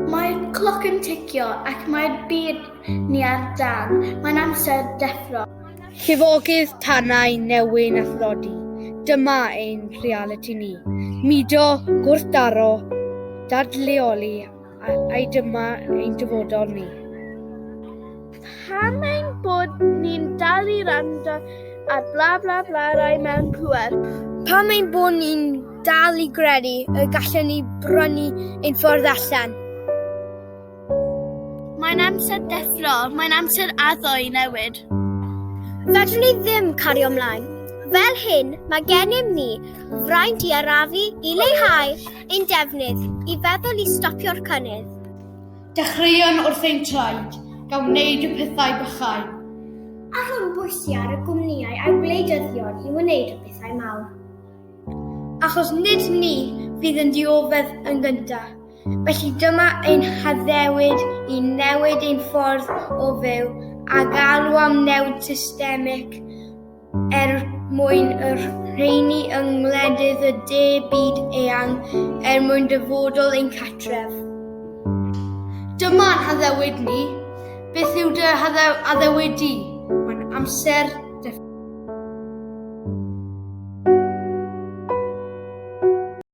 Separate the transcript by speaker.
Speaker 1: Mae'r cloc yn ticio ac mae'r byd ni ar dân. Mae'n amser deffro. Llifogydd
Speaker 2: tanau newyn a thlodi, dyma ein rhealiti ni. Mudo, gwrthdaro, dadleoli A, a dyma ein dyfodol ni. Pam
Speaker 1: ein bod ni'n dal i rando ar bla bla bla rai mewn pwer? Pam ein bod
Speaker 2: ni'n dal i gredu y gallwn ni brynu ein ffordd allan?
Speaker 1: Mae'n amser deffro, mae'n amser addo i newid. Fedrwn
Speaker 3: ni ddim cario ymlaen. Fel hyn, mae gennym ni fraint i arafu, i leihau Ein defnydd, i feddwl i stopio'r cynnydd. Dechreuon
Speaker 2: wrth ein traed, gan wneud y pethau bychain. A rhoi
Speaker 3: bwysi ar y gwmnïau a'r gwleidyddion i wneud y pethau mawr.
Speaker 2: Achos nid ni fydd yn dioddef yn gyntaf. Felly dyma ein haddewid i newid ein ffordd o fyw a galw am newid systemig, er mwyn yr rheini yng ngwledydd y de byd eang er mwyn dyfodol ein catref. Dyma'n haddewid ni. Beth yw dy haddewid di? Mae'n amser